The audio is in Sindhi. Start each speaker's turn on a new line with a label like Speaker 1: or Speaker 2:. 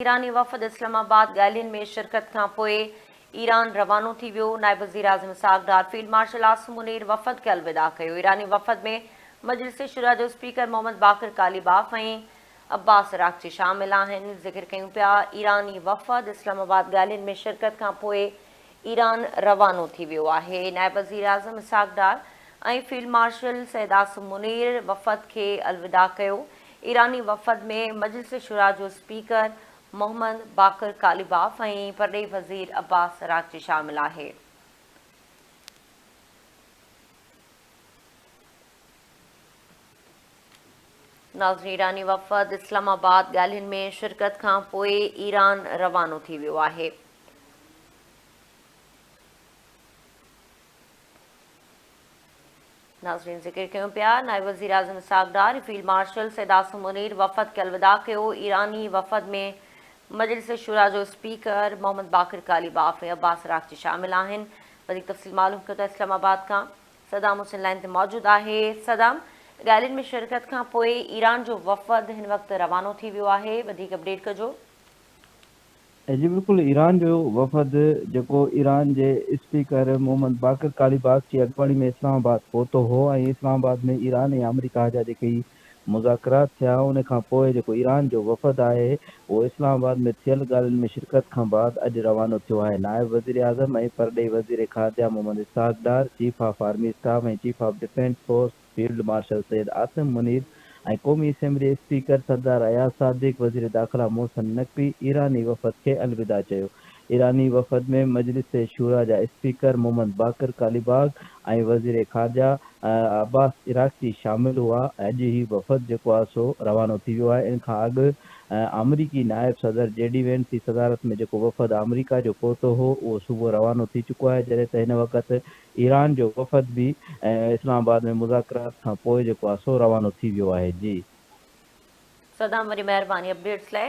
Speaker 1: ايراني وفد اسلام آباد ڳالهين ۾ شرڪت کان پوء ايران روانو ٿي ويو، نائب وزيراعظم اسحاق ڊار فيلڊ مارشل عاصم منير وفد کي الوداع ڪيو، ايراني وفد ۾ مجلس شوريٰ جو speaker Mohammad Baqar Ghalibaf ۽ Abbas Araghchi شامل آهن، ذڪر ڪيون پيا ايراني وفد اسلام آباد ڳالهين ۾ شرڪت کان پوء ايران روانو ٿي ويو آهي. نائب وزيراعظم اسحاق ڊار ۽ فيلڊ مارشل سيد عاصم منير وفد کي الوداع ڪيو. ايراني وفد ۾ مجلس شورا جو اسپيڪر محمد باقر قاليباف ۽ پرڏيهي وزير عباس عراقچي شامل آهي. ناظرين ايراني وفد اسلام آباد ڳالهين ۾ شرڪت کانپوء ايران روانو ٿي ويو آهي. ناظرين ذڪر ڪيون پيا نائب وزيراعظم اسحاق ڊار فيلڊ مارشل سيد عاصم منير وفد کي الوداع ڪيو ايراني وفد ۾ مجلس شورا جو speaker Mohammad Bagher Ghalibaf ۽ Abbas Araghchi شامل آهن وڌيڪ تفصيل معلوم ڪيو ته اسلام آباد کان صدام حسين لائن تي موجود آهي صدام ريلين ۾ شرڪت کان پوء ايران جو وفد هن وقت روانو ٿي ويو آهي وڌيڪ اپڊيٽ ڪجو
Speaker 2: اڄ بالڪل ايران جو وفد جيڪو ايران جي اسپيڪر محمد باقر قاليباف جي اڳواڻي ۾ اسلام آباد پهتو هو ۽ اسلام آباد ۾ ايران ۽ آمريڪا جا جيڪي هي مذاڪرات ٿيا ان کان پوء جيڪو ايران جو وفد آهي اهو اسلام آباد ۾ ٿيل ڳالهين ۾ شرڪت کان بعد اڄ روانو ٿيو آهي نائب وزيراعظم ۽ پرڏيهي وزير خارجه Muhammad Ishaq Dar chief of army staff ۽ chief of defence force field marshal Syed Asim Munir ۽ قومي اسيمبلي اسپيڪر سردار اياز صادق، وزير داخلا محسن نقوي ايراني وفد کي الوداع چيو. ايراني وفد ۾ مجلس شوريٰ جا اسپيڪر محمد باقر قاليباغ ۽ وزير خارجه عباس عراقچي شامل هئا. اڄ هي وفد جيڪو آهي سو روانو ٿي ويو آهي. ان کان اڳ آمريڪي نائب صدر جي ڊي وينس جي صدارت ۾ جيڪو وفد آمريڪا جو پهتو هو اهو صبح روانو ٿي چڪو آهي جڏهن ته هن وقت ايران جو وفد به اسلام آباد ۾ مذاڪرات کان پوء جيڪو آ سو روانو ٿي
Speaker 1: ويو
Speaker 2: آهي جي. صدام
Speaker 1: وڏي
Speaker 2: مهرباني اپڊيٽس لاء.